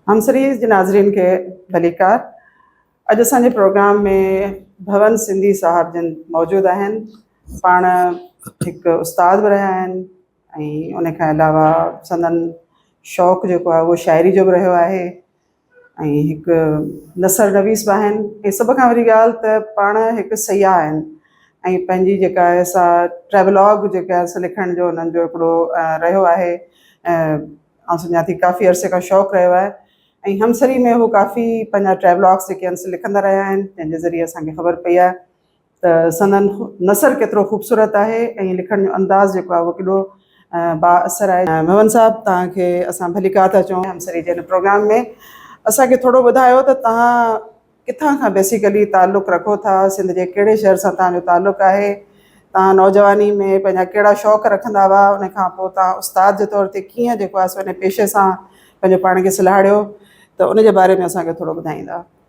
هم series جي ناظرين کي ڀليڪار. اڄ اسان جي پروگرام ۾ ڀون سنڌي صاحب جن موجود آهن. پاڻ هڪ استاد به رهيا آهن ۽ ان کان علاوه سندن شوق جيڪو آهي اهو شاعري جو به رهيو آهي. ۽ هڪ نثر نويس به آهن ۽ سڀ کان وڏي ڳالهه ته پاڻ هڪ سياح آهن ۽ پنهنجي جيڪا آهي سا ٽريولاگ جيڪا آهي سا لکڻ جو انهن جو هڪڙو رهيو آهي آئون سمجهان ٿي ڪافي عرصي کان شوق رهيو آهي ۽ همسري ۾ هو ڪافي پنهنجا ٽريولاگس جيڪي آهن سو لکندا رهيا آهن جنهن جي ذريعي اسانکي خبر پئي آهي ته سندن نثر ڪيترو خوبصورت آهي ۽ لکڻ جو انداز جيڪو آهي اهو ڪيڏو با اثر آهي. ميمڻ صاحب توهان کي اسان ڀليڪار ٿا چئون همسري جي هن پروگرام ۾ اسان کي ٿورو ٻڌايو ته توهان ڪٿان کان بيسيڪلي تعلق رکو ٿا سنڌ جي ڪهڙي شهر سان توهان جو تعلق آهي توهان نوجواني ۾ پنهنجا ڪهڙا شوق رکندا هئا ان کان پوء توهان استاد جي طور تي ڪيئن جيڪو آهي سو ان پيشي سان پنهنجو پاڻ کي سلهاڙيو ته ان جي باري ۾ اسان کي ٿورو ٻڌائيندا.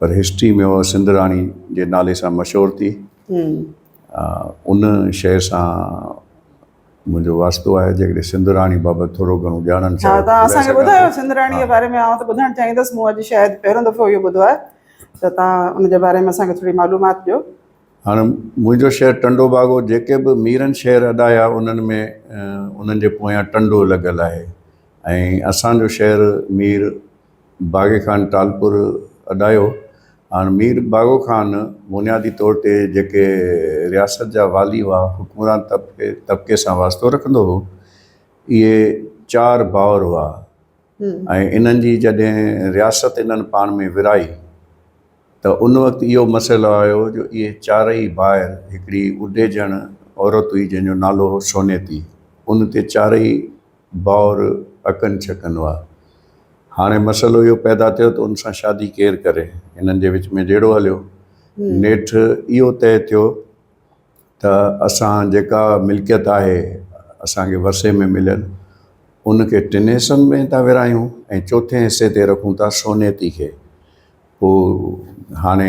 پر هسٽري ۾ اها سنڌ راڻي جي نالي سان مشهور ٿي ان شيء سان منهنجو واسطو آهي جيڪڏهن سنڌ راڻي بابت ٿورو گهڻو ڄاڻڻ چاهيو ته اسان کي ٻڌايو سنڌ راڻي جي باري ۾ آئون ته ٻڌڻ چاهيندس مون اڄ شايد پهريون دفعو اهو ٻڌو آهي ته تان ان جي باري ۾ اسان کي ٿوري معلومات ڏيو هاڻ منهنجو شهر ٽنڊو باگو جيڪي به ميرن شهر اڏايا انهن ۾ انهن جي پويان ٽنڊو لڳل آهي ۽ اسان جو شهر مير باغي خان ٽالپر اڏايو. هاڻ مير باغو خان بنيادي طور تي جيڪي رياست جا والي هئا، حڪمران طبقي سان واسطو رکندو هو. اهي چار ڀائر هئا ۽ انهن جي جڏهن رياست انهن پاڻ ۾ ورهائي ته ان وقت اهو مسئلو آيو جو اهي چارئي ڀائر هڪڙي اڊيجڻ عورت هئي جنهن جو نالو هو سونيتي ان تي چارئي ڀائر اڪن ڇڪن وا. هاڻي مسئلو اهو پيدا ٿيو ته ان سان شادي ڪير ڪري؟ هنن جي وچ ۾ جهيڙو هليو. نيٺ اهو طئي ٿيو ته اسان جيڪا ملڪيت آهي اسان کي ورثي ۾ مليل ان کي ٽن حصن ۾ ٿا ورهايون ۽ چوٿين حصي تي رکون ٿا سونيتي کي. پوء هاڻي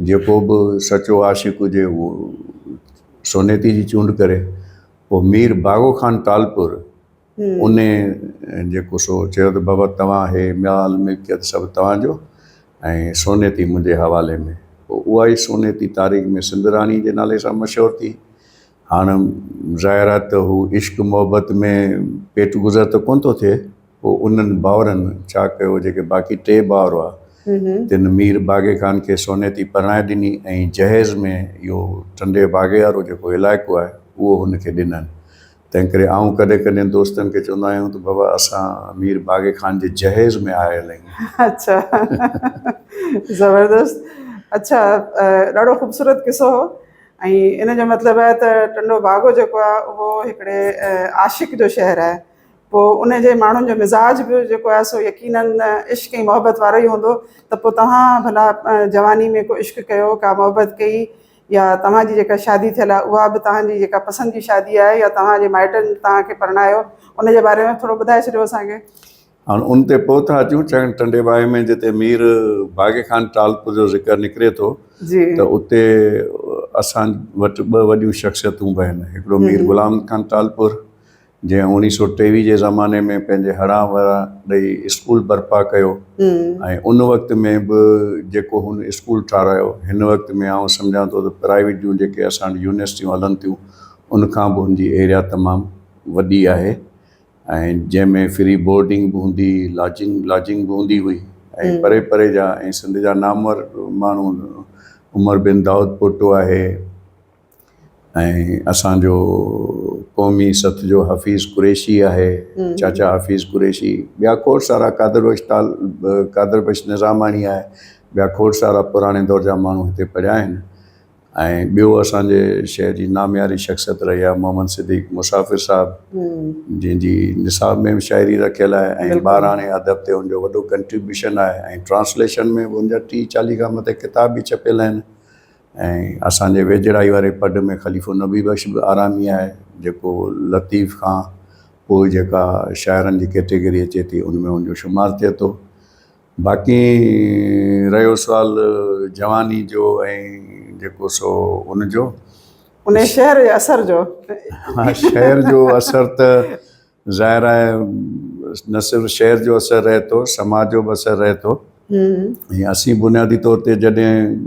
جيڪو به سچو عاشق هجي اهو سونيتي جي چونڊ ڪري. پوء مير باغو خان ٽالپور ان جيڪو سو چيو ته بابا توهان هي مال ملڪيت سڀ توهان جو ۽ سونيتي منهنجي حوالي ۾ پوء اها ئي سونيتي تاريخ ۾ سنڌ راڻي جي نالي سان مشهور ٿي هاڻ ظاهر آهي ته هو عشق محبت ۾ پيٽ گذر ته ڪونه ٿو ٿئي پوء انهن ڀائرن ڇا ڪيو، جيڪي باقي ٽي ڀائر هئا، تن مير باغي خان کي سونيتي پرڻائي ڏني ۽ جهيز ۾ اهو ٽنڊي باغي وارو جيڪو علائقو آهي، اهو هن کي ڏنائين. تنهن ڪري آئون ڪڏهن ڪڏهن دوستن کي چوندو آهيان ته بابا اسان مير باغي خان جي جهيز ۾ آيل آهيون. اڇا زبردست اڇا ڏاڍو خوبصورت قصو هو ۽ ان جو مطلب آهي ته ٽنڊو باگو جيڪو آهي اهو هڪڙي عاشق جو شهر آهي. پوء ان جي ماڻهن جو مزاج به جيڪو آهي سو يقينن عشق ۽ محبت وارو ئي هوندو ته پوء توهان ڀلا جواني ۾ ڪو عشق ڪيو ڪا محبت ڪئي يا توهان جي جيڪا شادي ٿيل آهي اها به توهان جي جيڪا پسند جي شادي آهي يا توهان جي مائٽن توهان کي پرڻايو ان جي باري ۾ ٿورو ٻڌائي ڇڏيو اسان کي. هاڻ ان تي پوء ٿا اچون چڱ ٽنڊي باهه ۾ جتي مير باغي خان ٽالپر جو ذڪر نڪري ٿو ته اتي اسان وٽ ٻه وڏيون شخصيتون به آهن هڪڙو مير غلام خان ٽالپر جنهن اوڻيهه سؤ ٽيويهه جي زماني ۾ پنهنجي هڙان وران ڏئي اسڪول برپا ڪيو ۽ ان وقت ۾ به جيڪو هن اسڪول ٺارايو هن وقت ۾ آئون سمجهان ٿو ته پرائيويٽ جون جيڪي اسان وٽ يونيورسٽيون هلن ٿيون ان کان به هن جي ايريا تمام وڏي آهي ۽ جنهن ۾ فري بورڊنگ به هوندي هئي لاجنگ لاجنگ به هوندي هئي ۽ پري پري جا ۽ سنڌ جا نامور ماڻهو عمر بن دائود پوٽو آهي ۽ اسان جو قومي سٿ جو حفيظ قريشي آهي چاچا حفيظ قريشي ٻيا کوڙ سارا قادر بخش تال قادر بخش نظاماڻي آهي ٻيا کوڙ سارا پراڻي دور جا ماڻهو هتي پڙهيا آهن ۽ ٻيو اسانجي شهر جي نامياري شخصيت رهي آهي محمد صديق مسافر صاحب جنهن جي نصاب ۾ به شاعري رکيل آهي ۽ ٻاراڻي ادب تي ان جو وڏو ڪنٽريبيوشن آهي ۽ ٽرانسليشن ۾ به ان جا ٽيهه چاليهه کان مٿي ڪتاب به ڇپيل آهن ۽ اسان جي ويجهڙائي واري پڊ ۾ خليفو نبي بخش به آرامي آهي جيڪو لطيف کان پوء جيڪا شاعرن جي ڪيٽيگري اچي ٿي ان ۾ ان جو شمار ٿئي ٿو باقي رهيو سوال جواني جو ۽ جيڪو سو ان جو انهي شعر جي اثر جو شعر جو اثر ته ظاهر آهي نه صرف شعر جو اثر رهي ٿو، سماج جو به اثر رهي ٿو ۽ اسين بنيادي طور تي جڏهن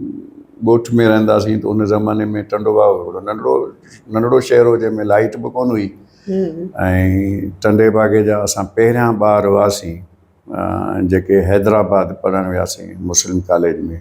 ڳوٺ ۾ رهندا سين ته ان زماني ۾ ٽنڊو باء هڪڙو ننڍڙو ننڍڙو شهر هو جنهن ۾ لائيٽ به ڪونه هئي ۽ ٽنڊي باگي جا اسان پهريان ٻار هئاسين جيڪي حيدرآباد پڙهڻ وياسين مسلم ڪاليج ۾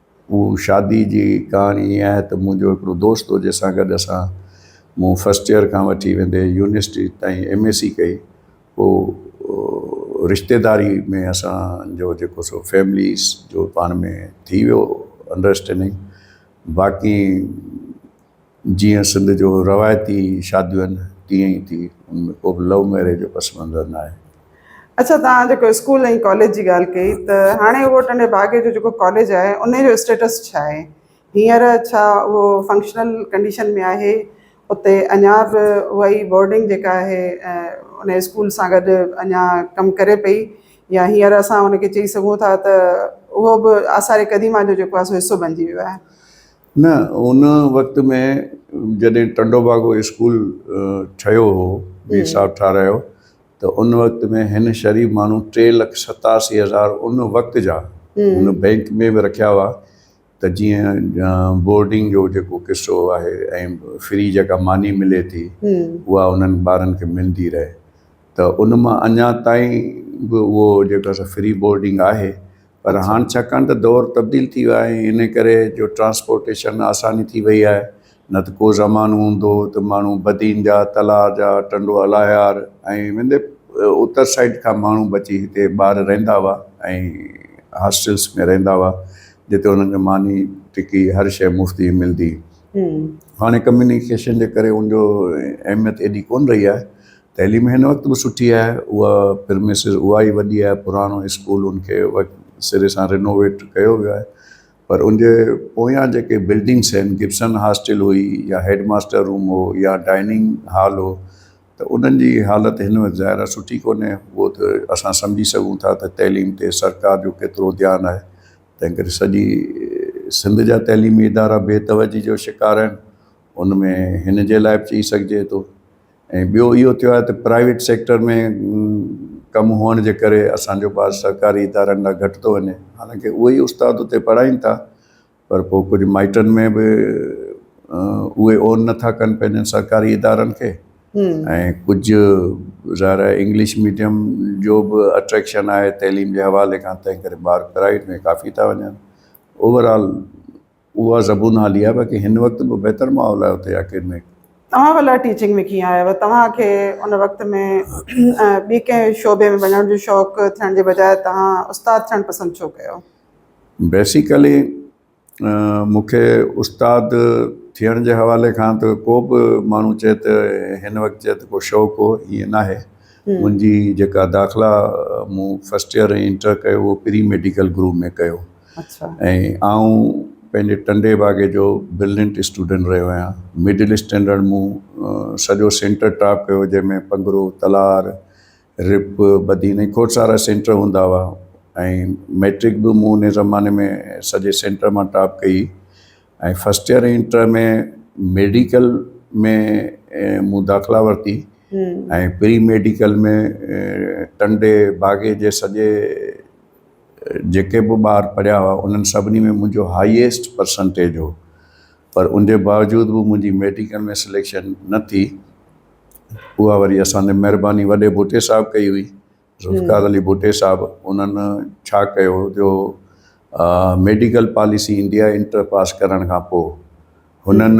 هو شادي جي ڪهاڻي ائين آهي ته منهنجو هڪڙو دوست هو جنهن سان گڏ اسان مون فرسٽ ايئر کان وٺي ويندي يونيورسٽي تائين ايم اي سي ڪئي پوء رشتيداري ۾ اسانجو جيڪو سو فيمليز جو پاڻ ۾ ٿي ويو انڊرسٽينڊنگ باقي جيئن سنڌ جو روايتي شاديون آهن تيئن ئي ٿي ان ۾ ڪو به لو ميريج جو پس منظر ناهي. اڇا توهان جيڪو اسڪول ۽ ڪاليج جي ڳالهه ڪئي ته هاڻي اهو ٽنڊي باگي جو جيڪو ڪاليج آهي ان جو اسٽيٽس ڇا آهي هينئر ڇا اهو فنڪشنل ڪنڊيشن ۾ آهي اتي اڃا به اها ئي بورڊنگ جيڪا آهي ان اسڪول سان گڏ اڃا ڪم ڪري پئي يا هينئر اسان ان کي چئي سگهون ٿا ته اهو به آثار قديمه جو جيڪو آهي سو حصو بنجي ويو آهي. نه ان وقت ۾ جڏهن ٽنڊو باگو اسڪول ٺهيو هو مير صاحب ٺارايو ته ان وقت ۾ هن شريف ماڻهو ٽي لک ستاسي هزار ان وقت جا هن بئنڪ ۾ به رکيا هئا ته جيئن بورڊنگ جو جيڪو قصو آهي ۽ فري جيڪا ماني ملي ٿي اها انهن ٻارن کي ملندي رهي ته ان مان اڃا تائين به اهو جيڪا سا فري بورڊنگ آهي پر هاڻ ڇاڪاڻ ته دور تبديل ٿي ويو آهي ان ڪري جو ٽرانسپورٽيشن آساني ٿي وئي آهي نه ته ڪو زمانو هوندو هو ته ماڻهو بدين جا تلاء جا ٽنڊو الاهيار ۽ وندي اتر سائيڊ کان ماڻهو به اچي هتي ٻار رهندا هئا ۽ هاسٽلس ۾ رهندا هئا جتي انهن کي ماني ٽڪي هر شيء مفت جي ملدي هاڻي ڪميونيڪيشن جي ڪري ان جو اهميت ايڏي ڪون رهي آهي تعليم هن وقت به سٺي آهي اها پرميسز اها ئي وڏي آهي پراڻو اسڪول ان کي سري سان رينوويٽ ڪيو ويو آهي پر ان جي پويان جيڪي بلڊنگس آهن گبسن هاسٽل هئي يا هيڊ ماستر روم هو يا ڊائننگ هال هو ته انهن جي حالت هن وقت ظاهر آهي سٺي ڪونهي اهو ته اسان سمجهي سگهون ٿا ته تعليم تي سرڪار جو ڪيترو ڌيان آهي تنهن ڪري سڄي سنڌ جا تعليمي ادارا بي توجهي جو شڪار آهن ان ۾ هن جي لاء به چئي سگهجي ٿو ۽ ٻيو اهو ٿيو آهي ته پرائيويٽ سيڪٽر ۾ ڪم هئڻ جي ڪري اسان جو ٻار سرڪاري ادارن ڏانهن گهٽ ٿو وڃي حالانڪه اهي ئي استاد اتي پڙهائين ٿا پر پوء ڪجهه مائٽن ۾ به اهي اون نٿا ڪن پنهنجن سرڪاري ادارن کي ۽ ڪجهه ظاهر آهي انگلش ميڊيم جو به اٽريڪشن آهي تعليم جي حوالي کان تنهن ڪري ٻار پرائيويٽ ۾ ڪافي ٿا وڃن اوور آل اها زبون حالي آهي باقي هن وقت به بهتر ماحول آهي اتي اڪيڊمڪ. توهان ڀلا ٽيچنگ ۾ ڪيئن آيو توهان کي ان وقت ۾ ٻي ڪنهن شعبي ۾ وڃڻ جو شوق ٿيڻ جي بجاء توهان استاد ٿيڻ پسند ڇو ڪيو؟ بيسيڪلي مون کي استاد ٿيڻ جي حوالي کان ته ڪو به ماڻهو چئي ته هن وقت چئي ته ڪو شوق هو ائين ناهي منهنجي جيڪا داخلا مون فسٽ ايئر ۽ انٽر ڪيو هو پري ميڊيڪل گروپ ۾ ڪيو ۽ آئون پنهنجي ٽنڊي باگي جو برلنٽ اسٽوڊنٽ رهيو آهيان مڊل اسٽينڊرڊ مون سڄو سينٽر ٽاپ ڪيو جنهن ۾ پنگرو تلار رپ بدين ۽ کوڙ سارا سينٽر هوندا هئا ۽ ميٽرڪ به مون ان زماني ۾ سڄي سينٽر مان ٽاپ ڪئي ۽ فسٽ ايئر انٽر ۾ ميڊيڪل ۾ مون داخلا ورتي ۽ پري ميڊيڪل ۾ ٽنڊي باگي جي سڄي جيڪي به ٻار پڙهيا هئا انهن سڀني ۾ منهنجو هائيسٽ پرسنٽيج هو پر ان جي باوجود به منهنجي ميڊيڪل ۾ سليڪشن نه ٿي اها وري اسان تي مهرباني وڏي ڀٽي صاحب ڪئي هئي ذوالفقار علي ڀٽي صاحب انهن ڇا ڪيو جو medical policy India inter pass ڪرڻ کان پوء هنن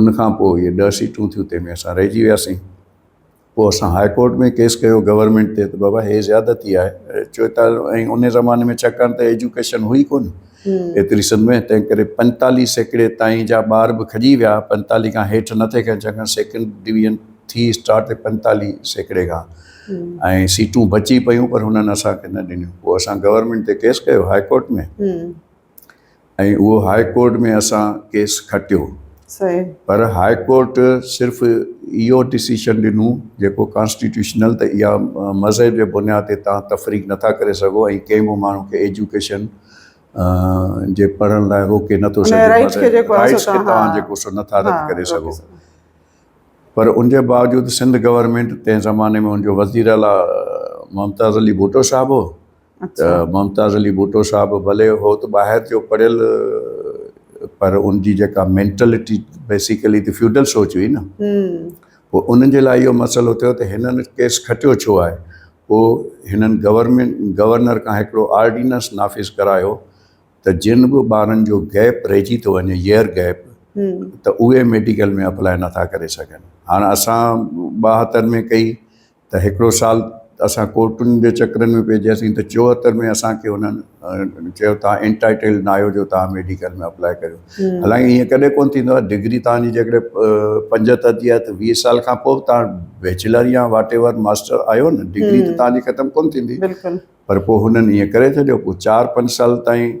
ان کان پوء اهي ڏهه سيٽون ٿيون تنهن ۾ اسان رهجي وياسين پوء اسان هاء ڪورٽ ۾ ڪيس ڪيو گورنمينٽ تي ته بابا هي زيادتي آهي چوئيتاليهه ۽ ان زماني ۾ ڇاڪاڻ ته ايجوڪيشن هئي ڪون ايتري سنڌ ۾ تنهن ڪري پنجتاليهه سيڪڙي تائين جا ٻار به کڄي ويا پنجتاليهه کان هيٺ نه ٿي کين ڇاڪاڻ سيڪنڊ ڊويزن ٿي اسٽارٽ ٿي پنجتاليهه سيڪڙي کان ۽ سيٽون بچي پيون پر هنن اسان کي نه ڏنيون پوء اسان گورنمينٽ تي ڪيس ڪيو هاء ڪورٽ ۾ ۽ اهو هاء ڪورٽ ۾ اسان ڪيس کٽيو پر هاء ڪورٽ صرف اهو ڊسيشن ڏنو جيڪو ڪانسٽيٽيوشنل ته اها مذهب جي بنياد تي تان تفريق نٿا ڪري سگهو ۽ ڪنهن به ماڻهو کي ايجوڪيشن جي پڙهڻ لاء روڪي نٿو سگهي رائيٽس کي توهان جيڪو سو نٿا رد ڪري سگهو پر ان جي باوجود سنڌ گورنمينٽ تنهن زماني ۾ ان جو وزيراعليٰ ممتاز علي ڀٽو صاحب هو اچھا ممتاز علي ڀٽو صاحب ڀلي هو ته ٻاهر جو پڙهيل پر ان جي جيڪا مينٽلٽي بيسيڪلي ته فيوڊل سوچ هئي نه پوء انهن جي لاء اهو مسئلو ٿيو ته هنن ڪيس کٽيو ڇو آهي پوء هنن گورنمينٽ گورنر کان هڪڙو آرڊيننس نافذ ڪرايو ته جن به ٻارن جو گيپ رهجي ٿو وڃي ييئر گيپ ته اهي ميڊيڪل ۾ اپلائي نٿا ڪري سگهن هاڻ اسان ٻاهتر ۾ ڪئي ته هڪڙو سال ته اسان ڪورٽن جي چڪرن ۾ پئجياسين ته چوهتر ۾ اسان کي انهن چيو توهان انٽائيٽيلڊ ناهيو جو توهان ميڊيڪل ۾ اپلاء ڪريو حالانڪ ايئن ڪڏهن ڪونه ٿيندو آهي ڊگري توهان جي جيڪڏهن پنجهتر جي آهي ته ويهه سال کان پوء به توهان بيچلر يا واٽ ايور ماسٽر آهيو نه ڊگري ته توهان جي ختم ڪونه ٿيندي پر پوء هنن ايئن ڪري ڇڏيو پوء چار پنج سال تائين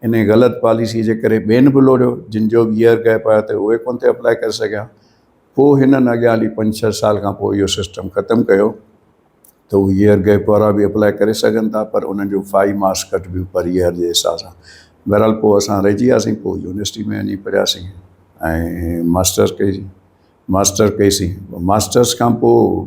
انهيء غلط پاليسيء جي ڪري ٻين به لوڙهيو، جن جو به ييئر گئپ آيو ته اهي ڪونه ٿي اپلائي ڪري سگهيا. پوء هنن اڳيان هلي پنج ڇهه سال کان پوء اهو سسٽم ختم ڪيو ته اهي ييئر گئپ وارا به اپلائي ڪري سگهن ٿا پر انهن جون فائيو مارڪس ڪٽبيون پر ييئر جي حساب سان. بهرحال پوء اسان رهجي وياسين. پوء يونيورسٽيء ۾ وڃي پڙهياسين ۽ ماسٽرس ڪئي. ماسٽر ڪئي سين. ماسٽرس کان پوء.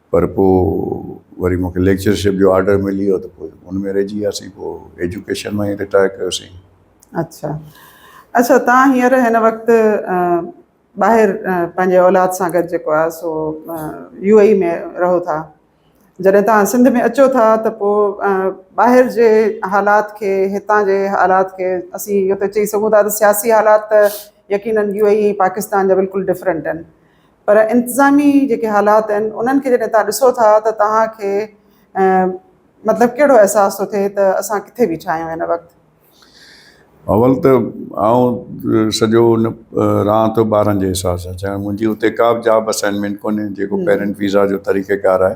پر پوء وري مون کي ليڪچرشپ جو آرڊر ملي ويو ته پوء ان ۾ رهجي وياسين پوء ايجوڪيشن ماں ئي رٽائر ڪيوسين اڇا اڇا تان هينئر هن وقت ٻاهر پنهنجي اولاد سان گڏ جيڪو آهي سو يو اي اي ۾ رهو ٿا جڏهن تان سنڌ ۾ اچو ٿا ته پوء ٻاهر جي حالات کي هتان جي حالات کي اسين اهو ته چئي سگهون ٿا ته سياسي حالات ته يقينن يو اي اي پاڪستان جا بلڪل ڊفرنٽ آهن پر انتظامي جيڪي حالات آهن انهن کي جڏهن توهان ڏسو ٿا ته توهان کي مطلب ڪهڙو احساس ٿو ٿئي ته اسان ڪٿي بيٺا آهيون هن وقت؟ اول ته آئون سڄو ان رهان ٿو ٻارن جي حساب سان ڇاڪاڻ منهنجي اتي ڪا به جاب اسائنمينٽ ڪونهي جيڪو پيرنٽ ويزا جو طريقيڪار آهي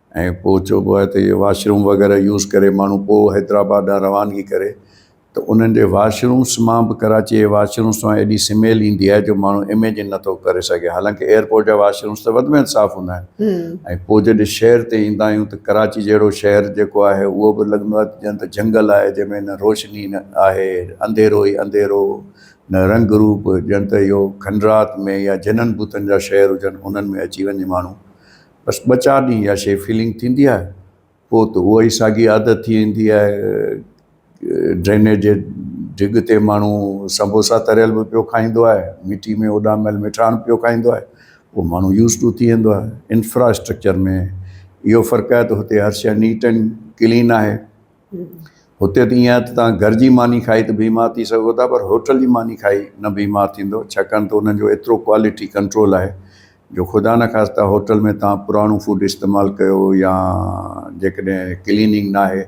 ۽ پوء چئبو آهي ته اهي واش روم وغيره يوز ڪري ماڻهو پوء حيدرآباد ڏانهن روانگي ڪري ته انهن جي واش رومس مان به ڪراچيء جي واش رومس مان ايڏي سميل ايندي آهي جو ماڻهو اميجن نه ٿو ڪري سگهي حالانڪه ايئرپورٽ جا واش رومس ته وڌ ۾ وڌ صاف هوندا آهن ۽ پوء جڏهن شهر تي ايندا آهيون ته ڪراچي جهڙو شهر جيڪو آهي اهو به لڳندو آهي ته ڄڻ ته جهنگل آهي جنهن ۾ نه روشني آهي انڌيرو ئي انڌيرو نه رنگ روپ ڄڻ ته اهو کنڊرات ۾ يا جنن ڀوتن جا شهر هجن انهن ۾ اچي وڃي ماڻهو بس ٻه چار ڏينهن اها شيء فيلنگ ٿيندي آهي پوء ته اها ئي ساڳي عادت ٿي ويندي آهي. ڊرينيج جي ڊگهه تي ماڻهو سمبوسا تريل به پيو کائيندو آهي، مٺي ۾ اڏاميل مٺاڻ پيو کائيندو آهي، پوء ماڻهو يوز ٽو ٿي ويندو آهي. انفراسٽرڪچر ۾ اهو فرق آهي ته هتي هر شيء نيٽ اينڊ ڪلين آهي. هتي ته ائين آهي ته توهان گهر جي ماني کائي ته بيمار ٿي سگهو ٿا پر هوٽل جي ماني کائي نه بيمار ٿيندو ڇاڪاڻ ته انهن جو ايترو ڪوالٽي ڪنٽرول آهي جو خدا نخواسته هوٽل ۾ توهان پراڻو فوڊ استعمال ڪيو يا جيڪڏهن ڪليننگ ناهي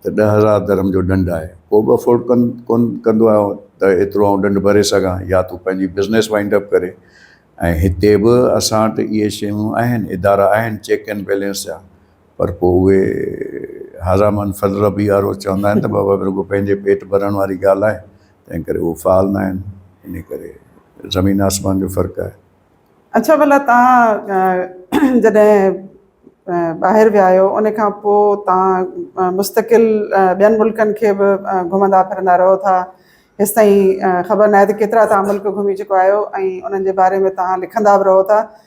ته ڏهه هزار درهم جو ڏنڊ آهي ڪو به افورڊ ڪن ڪونه ڪندو آهي ته ايترو آئون ڏنڊ ڀري سگهان يا تون پنهنجي بزنس وائنڊ اپ ڪري ۽ هتي به اسان وٽ اهي شيون آهن ادارا آهن چيڪ اينڊ بيلنس جا پر پوء اهي هذا من فضل ربي وارو چوندا آهن ته بابا رڳو پنهنجي پيٽ ڀرڻ واري ڳالهه آهي تنهن ڪري اهو فعال نه آهن انهي ڪري زمين آسمان جو فرق آهي. اڇا ڀلا توهان جڏهن ٻاهر ويا آهيو ان کان پوء توهان مستقل ٻين ملڪن کي به گهمندا ڦرندا رهو ٿا هيستائين خبر ناهي ته ڪيترا توهان ملڪ گهمي چڪا آهيو ۽ انهن جي باري ۾ توهان لکندا به رهو ٿا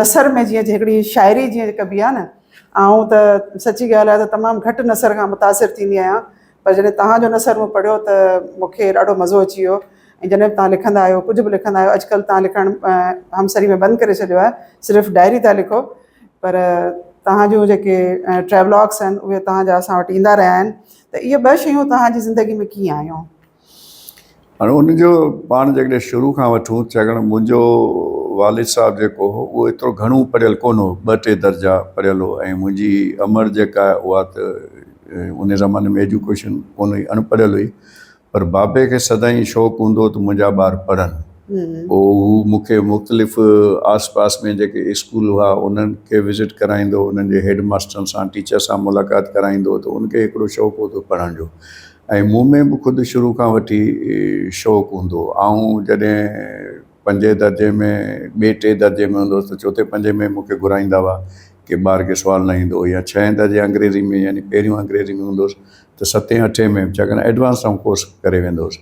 نثر ۾ جيئن هڪڙي شاعري جيئن ڪبي آهي نه آئون ته سچي ڳالهه آهي ته تمام گهٽ نثر کان متاثر ٿيندي آهيان پر جڏهن توهان جو نثر مون پڙهيو ته مون کي ڏاڍو مزو اچي ويو ۽ جڏهن به توهان لکندا آهيو ڪجهه به لکندا آهيو اڄ ڪلهه توهان لکڻ همسري ۾ بند ڪري ڇڏيو آهي صرف ڊائري ٿا لکو پر توهان جون جيڪي ٽريولاڪس آهن اهي توهان جا اسان وٽ ايندا رهيا آهن ته اهي ٻه شيون توهان جي زندگي ۾ ڪيئن آيون هاڻي ان جو پاڻ جيڪڏهن شروع کان وٺون ڇاڪاڻ منهنجو والد صاحب جيڪو هو اهو ايترو گهڻو پڙهيل ڪونه هو ٻه ٽي درجا پڙهيل هو ۽ منهنجي امڙ جيڪا آهي اها ته ان زماني ۾ ايجوڪيشن ڪونه هئي اڻ پڙهيل هئي پر بابي کي سدائين شوق هوندو هو ته منهنجا ٻار پڙهن پوء هو مون کي مختلف آس پاس ۾ جيڪي اسڪول هئا انهن کي وزٽ ڪرائيندو هو انهن جي هيڊ ماسترن سان ٽيچر سان ملاقات ڪرائيندو هو ته ان کي هڪڙو شوق هوندو هو پڙهڻ جو ۽ مون ۾ به خود شروع کان وٺي شوق هوندو هو آئون جڏهن پنجين درجي ۾ ٻي ٽي درجي ۾ هوندو هوس ته چوٿين پنجين ۾ مون کي گهرائيندا هئا ڪي ٻار کي سوال نه ايندو هو يا ڇهين درجي انگريزي ۾ يعني پهريون انگريزي ۾ هوندو هوس ته ستين اٺين ۾ چاڪن ايڊوانس آئون ڪورس ڪري ويندو هوس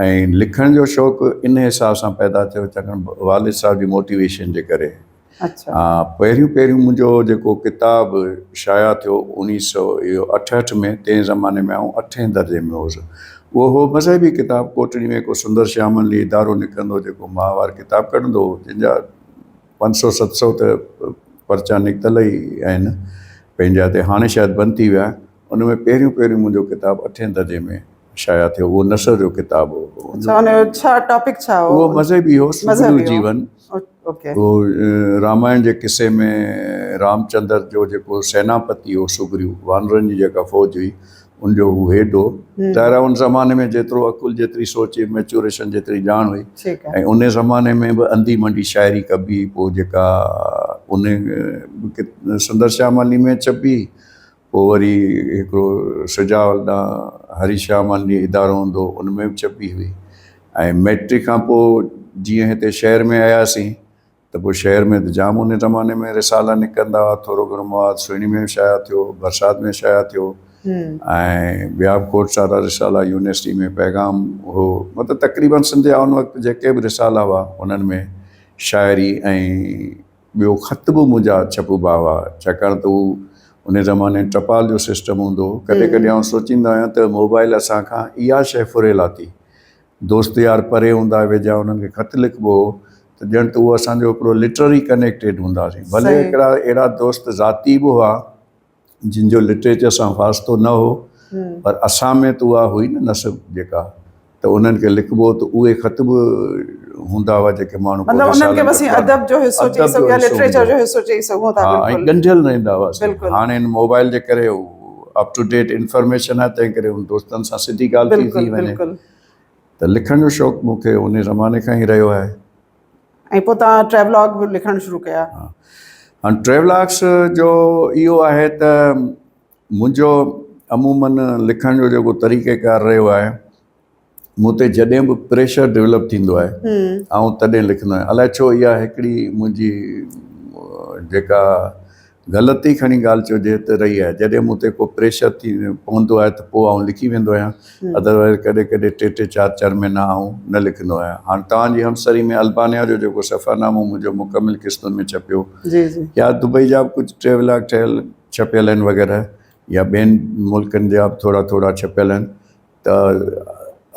۽ لکڻ جو شوق ان حساب سان پيدا ٿيو چاڪن والد صاحب جي موٽيويشن جي ڪري اچھا ھا پهريون پهريون منھنجو جيڪو ڪتاب شايع ٿيو اوڻيھ سئو اھو اٺهٺ ۾ تنهن زماني ۾ آئون اٺين درجي ۾ ھوس اھو ھو مذھبي ڪتاب ڪوٽڙي ۾ ڪو سندر شيامن لي ادارو نڪرندو ھو جيڪو ماھوار ڪتاب ڪڍندو ھو جن جا پنج سئو ست سئو ته پرچا نڪتل ئي آھن پنھنجا تي ھاڻي شايد بند ٿي ويا آھن ان ۾ پهريون پهريون منھنجو ڪتاب اٺين درجي ۾ شايع ٿيو اهو نثر جو ڪتاب هو اڇا ان جو ڇا ٽاپڪ ڇا هو اهو مذهبي هو سگهڙو جيون اوڪي اهو رامائڻ جي قصي ۾ رامچندر جو جيڪو سيناپتي هو سگهڙو وانرن جي جيڪا فوج هئي ان جو هو هيڊ هو ظاهر آهي ان زماني ۾ جيترو عقل جيتري سوچ ميچوريشن جيتري ڄاڻ هئي ٺيڪ آهي ۽ ان زماني ۾ به انڌي منڊي شاعري ڪبي هئي پوء جيڪا ان سندر شيام علي ۾ ڇپي پوء وري هڪڙو سجاول ڏانهن هري شيام آنڊي ادارو هوندو هو ان ۾ به ڇپي هئي ۽ مئٽرڪ کان پوء جيئن هتي شهر ۾ آياسين ته پوء شهر ۾ ته جام ان زماني ۾ رسالا نڪرندا هئا ٿورو گهڻو مواد سهڻي ۾ به شايع ٿيو برسات ۾ شايع ٿيو ۽ ٻيا به کوٽ سارا رسالا يونيورسٽي ۾ پيغام هو مطلب تقريبن سنڌ جا ان وقت جيڪي به رسالا هئا انهن ۾ شاعري ۽ ٻيو خط به منهنجا ڇپبا هئا ڇاڪاڻ ته هو ان زماني ٽپال جو سسٽم هوندو هو ڪڏهن ڪڏهن آئون سوچيندو آهيان ته موبائل اسان کان اها شيء ڦري لاٿي دوست يار پري هوندا هئا ويجها انهن کي خط لکبو هو ته ڄڻ ته هو اسان جو هڪڙو لٽرري ڪنيڪٽيڊ هونداسين ڀلي هڪڙا اهڙا دوست ذاتي به هئا جن جو لٽريچر سان واسطو نه هو پر اسان ۾ ته اها هئي نه نسب جيڪا ته انهن کي لکبو ته اهي خط به هوندا هئا جيڪي ماڻهو مطلب انهن کي بس ادب جو حصو چئي سگهو يا لٽريچر جو حصو چئي سگهو ٿا ۽ ڳنڍيل رهندا هئاسين هاڻي هن موبائل جي ڪري اپ ٽو ڊيٽ انفارميشن آهي تنهن ڪري ان دوستن سان سڌي ڳالهه ٿي ٿي وڃي ته لکڻ جو شوق مون کي ان زماني کان ئي رهيو آهي ۽ پوء توهان ٽريولاگ به لکڻ شروع ڪيا. هاڻ ٽريولاگس جو اهو آهي ته منهنجو عمومن لکڻ جو جيڪو طريقه ڪار رهيو آهي مون تي جڏهن به پريشر ڊيولپ ٿيندو آهي آئون تڏهن لکندو آهيان الائي ڇو اها هڪڙي منهنجي جيڪا غلط ئي کڻي ڳالهه چئجي ته رهي آهي. جڏهن مون تي ڪو پريشر ٿي پوندو آهي ته پوء آئون لکي ويندو آهيان. ادروائز ڪڏهن ڪڏهن ٽي ٽي چار چار مهينا آئون نه لکندو آهيان. هاڻ توهان جي همسري ۾ البانيا جو جيڪو سفرنامو منهنجو مڪمل قسطن ۾ ڇپيو يا دبئي جا به ڪجهه ٽريولاگ ٺهيل ڇپيل آهن وغيره يا ٻين ملڪن جا به ٿورا ٿورا ڇپيل آهن ته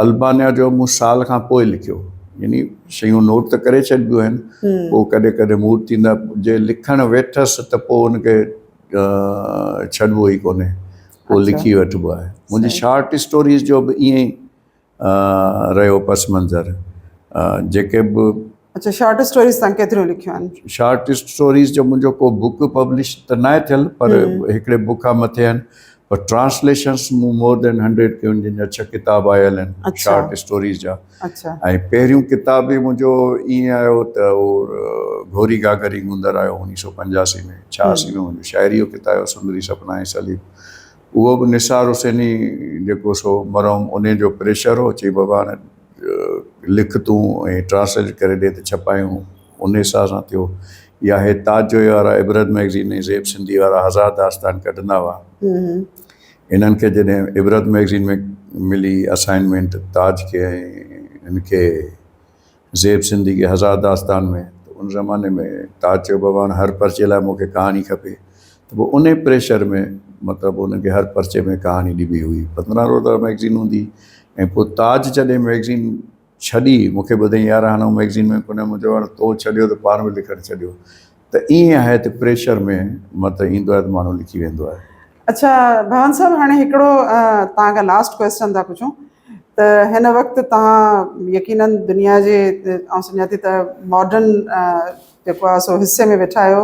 البانيا جو مون سال کان پوء لکيو يعني شيون نوٽ ته ڪري ڇڏبيون آهن پوء ڪڏهن ڪڏهن موڊ ٿيندو آهي جي لکڻ ويٺس ته پوء ان کي ڇڏبو ئي ڪونهي پوء لکي وٺبو آهي منهنجي شارٽ اسٽوريز جو به ائين رهيو پس منظر جيڪي به اچا شارٽ اسٽوريز تان ڪيتريون لکيون آهن؟ شارٽ اسٽوريز جو منهنجو ڪو بوڪ پبلش ته ناهي ٿيل پر هڪڙي بوڪ کان مٿي آهن پر ٽرانسليشنس مون مور دين هنڊريڊ ڪيون آهن جن جا ڇهه ڪتاب آيل آهن شارٽ اسٽوريز جا ۽ پهريون ڪتاب به منهنجو ائين آيو ته اهو گهوري گاگري گوندر آيو اڻيهه سؤ پنجاسي ۾ ڇياسي ۾ منهنجو شاعري جو ڪتاب آيو سندري سپنا ۽ سليم اهو به نثار حسيني جيڪو سو مرحوم ان جو پريشر هو چي بابا هاڻي لکتون ۽ ٽرانسليٽ ڪري ڏي ته ڇپايون ان حساب سان ٿيو يا هي تاج جويي وارا عبرت مئگزين ۽ زيب سنڌي وارا هزار داستان ڪڍندا هئا هنن کي جڏهن عبرت مئگزين ۾ ملي اسائنمينٽ تاج کي ۽ هن کي زيب سنڌي کي هزار داستان ۾ ان زماني ۾ تاج چيو بابا هاڻي هر پرچي لاء مونکي ڪهاڻي کپي ته پوء انهي پريشر ۾ مطلب انهن کي هر پرچي ۾ ڪهاڻي ڏبي هئي. پندرهن روزه مئگزين هوندي هئي ۽ پوء تاج جڏهن مئگزين ڇڏي مون کي ٻڌائين يار هاڻ آئون مئگزين ۾ ڪونه مون چيو هاڻ تو ڇڏيو ته پاڻ به لکڻ ڇڏيو ته ائين آهي ته پريشر ۾ مطلب ايندو آهي ته ماڻهو لکي ويندو آهي. اڇا ڀوان صاحب هاڻي هڪڙو توهان کان لاسٽ ڪوئسچن ٿا پڇون ته هن وقت توهان يقينن دنيا جي آئون سمجهان ٿي ته ماڊرن جيڪو آهي سو حصي ۾ ويٺا آهيو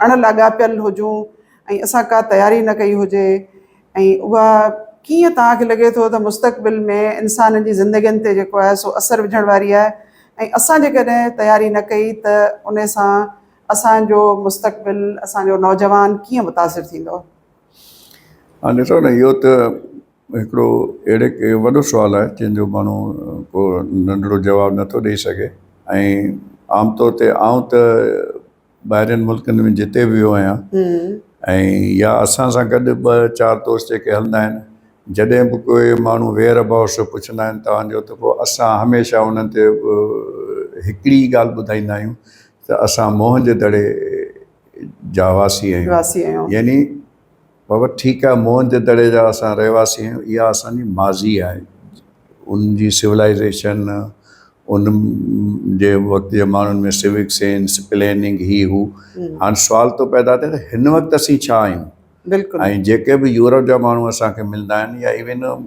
اڻ لاڳاپيل هجون ۽ اسان ڪا تياري نه ڪئي هجي ۽ اها ڪيئن توهان کي لڳي ٿو ته مستقبل ۾ انسانن جي زندگين تي جيڪو آهي سو اثر وجهڻ واري آهي ۽ اسان جيڪڏهن تياري نه ڪئي ته ان سان اسان جو مستقبل اسان جو نوجوان ڪيئن متاثر ٿيندو. هاڻ ڏسو نه اهو ته هڪڙو اهڙي وڏو سوال آهي جنهن جو ماڻهو ڪو ننڍڙو جواب نٿو ڏئي سگهي ۽ عام طور تي آئون ته ٻاهرين ملڪن ۾ جتي به ويو آهيان ۽ يا اسان سان گڏ ٻه چار دوست جيڪي هلندا آهن جڏهن به ڪوئي ماڻهو ويئر ابائوٽس جو پڇندا آهن توهان جو ته پوء اسان هميشه انهن تي هڪڙي ئي ڳالهه ٻڌائيندا آهيون ته اسان موهن جي دڙي جا واسي آهيون يعني بابا ٺيڪ آهي موهن جي دڙي جا اسان رهواسي آهيون اها اسان جي ماضي آهي ان جي سولائزيشن ان جي وقت جي ماڻهن ۾ سوڪ سينس پليننگ هي هو هاڻ سوال ٿو پيدا ٿي ته هن وقت اسين ڇا آهيون بلڪل ۽ جيڪي به يورپ جا ماڻهو اسان کي ملندا آهن يا ايون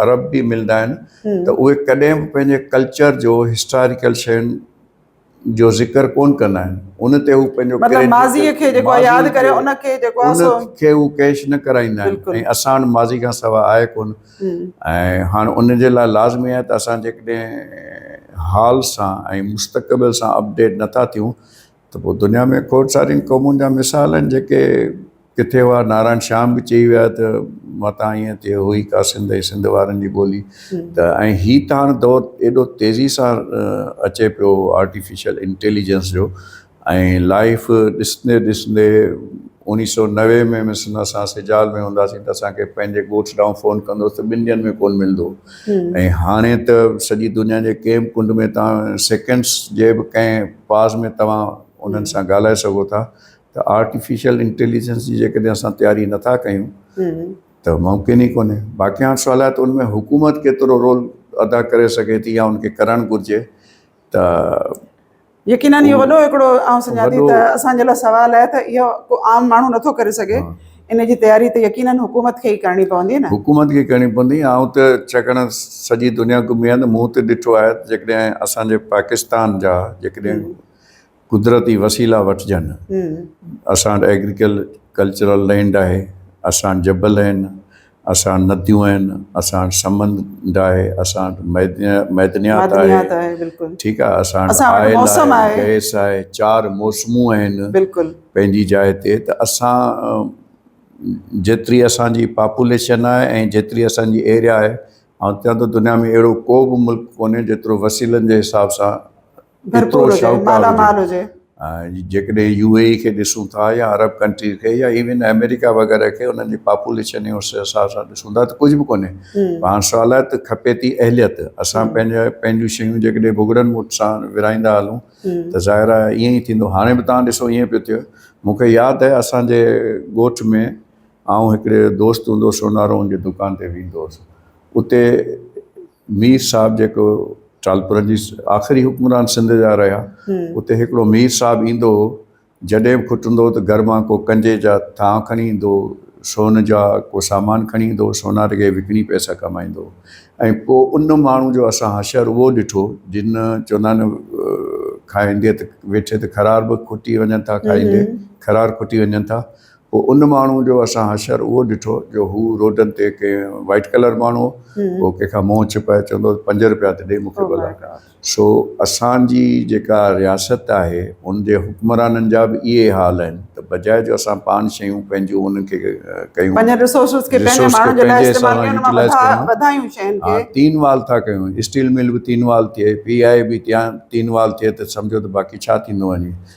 عرب به ملندا آهن ته اهي ڪڏهن به پنهنجي ڪلچر جو هسٽاريڪل شين جو ذڪر ڪونه ڪندا آهن ان تي هو پنهنجو مطلب ڪريڊٽ ماضيء کي جيڪو آهي ياد ماضيء ڪري کي ان کي جيڪو آهي ان سو کي هو ڪيش نه ڪرائيندا آهن بلڪل. ۽ اسان وٽ ماضي کان سواء آهي ڪونه ھمم ۽ هاڻ ان جي لاء لازمي آهي ته اسان جيڪڏهن حال سان ۽ مستقبل سان اپڊيٽ نٿا ٿيون ته پوء دنيا ۾ کوڙ سارين قومن جا مثال آهن جيڪي ڪٿي هئا نارائڻ شيام به چئي ويا ته متان ائين تي هو ئي ڪا سنڌ ۽ سنڌ وارن جي ٻولي ته ۽ هي ته هاڻ دور ايڏو تيزي سان اچي پيو آرٽيفيشل انٽيليجنس جو ۽ لائف ڏسندي ڏسندي اوڻيهه سؤ نوي ۾ مثلاً اسان سجال ۾ هونداسين ته اسانکي پنهنجي ڳوٺ ڏانهن فون ڪندو هوس ته ٻن ڏينهن ۾ ڪون ملندو هو ۽ هاڻي ته سڄي دنيا جي ڪنهن به ڪنڊ ۾ تان سيڪنڊس جي به ڪنهن پاز ۾ توهان انهن سان ڳالهائي سگهو ٿا ته آرٽيفيشل انٽيليجنس جي جيڪڏهن اسان تياري نٿا ڪيون ته ممڪن ئي ڪونهي باقي هاڻ سوال آهي ته ان ۾ حڪومت ڪيترو رول ادا ڪري سگهي ٿي يا ان کي ڪرڻ گهرجي ته يقيناً اهو وڏو هڪڙو آئون سمجهان ٿي ته اسان جي لاء سوال آهي ته اهو ڪو عام ماڻهو نٿو ڪري سگهي ان جي تياري ته يقيناً حڪومت کي ئي ڪرڻي پوندي نه حڪومت کي ڪرڻي پوندي آئون ته ڇاڪاڻ سڄي دنيا گهمي آهيان ته مون ته ڏٺو آهي جيڪڏهن اسان جي پاڪستان جا جيڪڏهن قدرتي وسيلا وٺجن اسان وٽ ايگريڪل ڪلچرل لينڊ آهي اسان وٽ جبل آهن اسان وٽ نديون آهن اسان وٽ سمنڊ آهي اسان وٽ معدنيات معدنيات آهي معدنيات آهي بلڪل ٺيڪ آهي اسان وٽ اسان وٽ آئل موسم آهي آهي گئس آهي چار موسمون آهن بلڪل پنهنجي جاء تي ته اسان جيتري اسانجي پاپوليشن آهي ۽ جيتري اسانجي ايريا آهي آئون چوان ٿو دنيا ۾ اهڙو ڪو به ملڪ ڪونهي جيترو وسيلن جي حساب سان ڀرپور هجي، مالا مال هجي. جيڪڏهن يو اي اي کي ڏسون ٿا يا عرب ڪنٽريز کي يا ايون آمريڪا وغيره کي انهن جي پاپوليشن جي اس حساب سان ڏسون ٿا ته ڪجهه به ڪونهي پر هاڻ سوال آهي ته کپي ٿي اهليت اسان پنهنجا پنهنجون شيون جيڪڏهن بگڙن موٽ سان ورهائيندا هلون ته ظاهر آهي ائين ئي ٿيندو هاڻي به توهان ڏسو ائين پيو ٿئي مون کي ياد آهي اسان جي ڳوٺ ۾ آئون هڪڙي دوست هوندو هو سونارون جي دڪان تي ويندو هوس اتي مير صاحب جيڪو ٽالپرن جي آخري حڪمران سنڌ جا رهيا اتي هڪڙو مير صاحب ايندو هو جڏهن به کٽندو هو ته گهر مان ڪو ڪنجي جا ٿانء کڻي ايندو هو سون جا ڪو سامان کڻي ايندو هو سونار کي وڪڻي پئسا ڪمائيندو هو ۽ ڪو ان ماڻهو جو اسان حشر اهو ڏٺو جن چوندا آهن کائيندي ته ويٺي ته خرار به کٽي وڃن ٿا کائيندي خرار کٽي وڃن ٿا پوء ان ماڻهو جو اسان حشر اهو ڏٺو جو هو روڊن تي ڪنهن وائيٽ ڪلر ماڻهو هو ڪنهن کان منهن ڇپائي چوندو هو پنج روپيا ته ڏي مون کي ڀلا سو اسان جي جيڪا رياست آهي ان جي حڪمرانن جا به اهي ئي حال آهن ته بجاء جو اسان پاڻ شيون پنهنجون انهن کي ڪيون پنهنجن رسورسز کي پنهنجن ماڻهن جي لاء استعمال ڪيون ان مان وڌايون شين کي ها تين وال ٿا ڪيون اسٽيل مل به تين وال ٿئي پي آء اي به تين وال ٿئي ته سمجهو ته باقي ڇا ٿيندو وڃي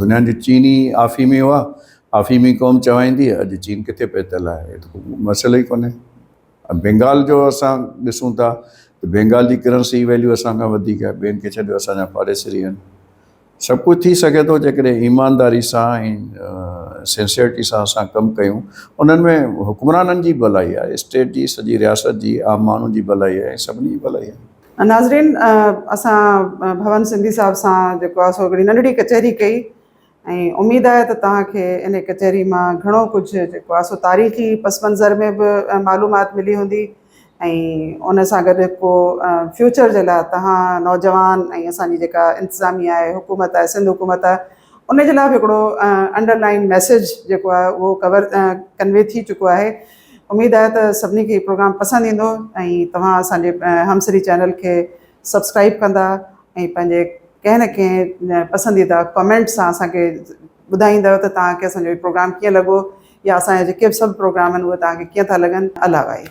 دنيا جي چين ئي آفيمي هئا، آفيمي قوم چوائيندي اڄ چين ڪٿي پهتل آهي هي ته ڪو مسئلو ئي ڪونهي. بينگال جو اسان ڏسون ٿا ته بينگال جي ڪرنسي جي ويليو اسان کان وڌيڪ آهي ٻين کي ڇڏيو اسان جا پاڙيسري آهن. سڀ ڪجهه ٿي سگهي ٿو جيڪڏهن ايمانداري سان ۽ سنسيئرٽي سان اسان ڪم ڪيون انهن ۾ حڪمرانن جي ڀلائي آهي اسٽيٽ جي سڄي رياست جي عام ماڻهو جي ڀلائي آهي ۽ سڀني جي ڀلائي آهي. ناظرين اسان ڀون سنڌي صاحب سان جيڪو آ سو هڪڙي ننڍڙي ڪچهري ڪئي ۽ اميد آهي ته توهان کي انهي ڪچهري مان گهڻو ڪجهه جيڪو آ سو تاريخي پس منظر ۾ به معلومات ملي هوندي ۽ ان سان گڏ ڪو فيوچر جي لاء توهان نوجوان ۽ اسان جي جيڪا انتظاميا آهي حڪومت آهي سنڌ حڪومت آهي ان جي لاء به هڪڙو انڊر لائن ميسيج جيڪو آهي اهو ڪور ڪنوي ٿي چڪو آهي اميد آهي ته سڀني کي هي پروگرام پسند ايندو ۽ توهان اسان جي همسري چينل کي سبسڪرائب ڪندا ۽ پنهنجي ڪنهن نه ڪنهن پسنديده ڪمينٽ سان اسان کي ٻڌائيندؤ ته توهان کي اسان جو هي پروگرام ڪيئن لڳو يا اسان جا جيڪي به سڀ پروگرام آهن اهي توهان کي ڪيئن ٿا لڳن الله وائي.